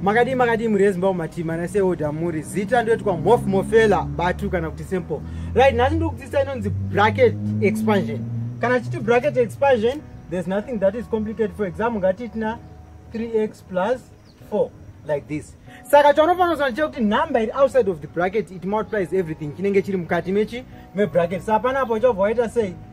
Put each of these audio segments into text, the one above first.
makadii makadii mhuri yezimbabwe matima naseoda muri zita ndoitwa mof mofela batu kana kuti simple right nhasi ndiri kudzidzisa inonzi bracket expansion kana chiti bracket expansion there's nothing that is complicated for example ngatiitina 3x plus 4 like this saka chaunofanira kuziva chekuti number iri outside of the bracket it multiplies everything chinenge chiri mukati mechi mebracket sa panapo uchobva waita sei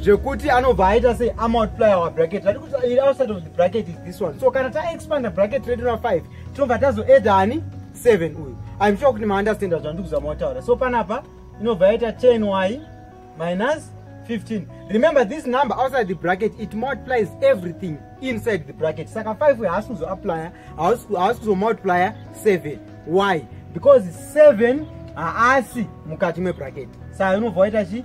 zvekuti anobva aita sei amultiply our bracket tati kuti iri outside of the bracket is this one so kana taexpanda bracket redu na 5 tinobva tazoedha ani 7 uyu im sure kuti maunderstanda zvandiri kuzama kutaura so panapa inobva yaita 10 y minus 15 remember this number outside the bracket it multiplies everything inside the bracket saka 5 haasi kuzoapplya haasi kuzomultiplya 7 y because 7 haasi mukati mebracket saka inobva waita chii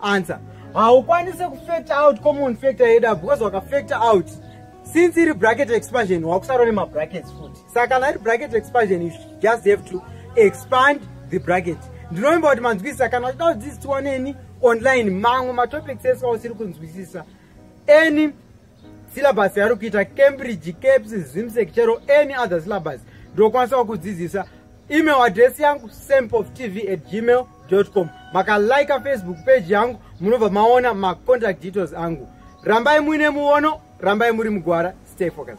Answer. Haukwanise kufactor out common factor yeda because wakafactor out since iri bracket expansion wakusaro nema brackets futi saka kana iri bracket expansion you just have to expand the bracket ndinovimba kuti manzwisisa kana uchida kudzidziswa neni online mamwe matopics ese ausiri kunzwisisa any syllabus yaari kuita cambridge caps zimsec chero any other syllabus ndokwanisawo kudzidzisa email address yangu sempofttv at gmail com makalika facebook page yangu munobva maona macontact details angu rambai muine muono rambai muri mugwara stay focused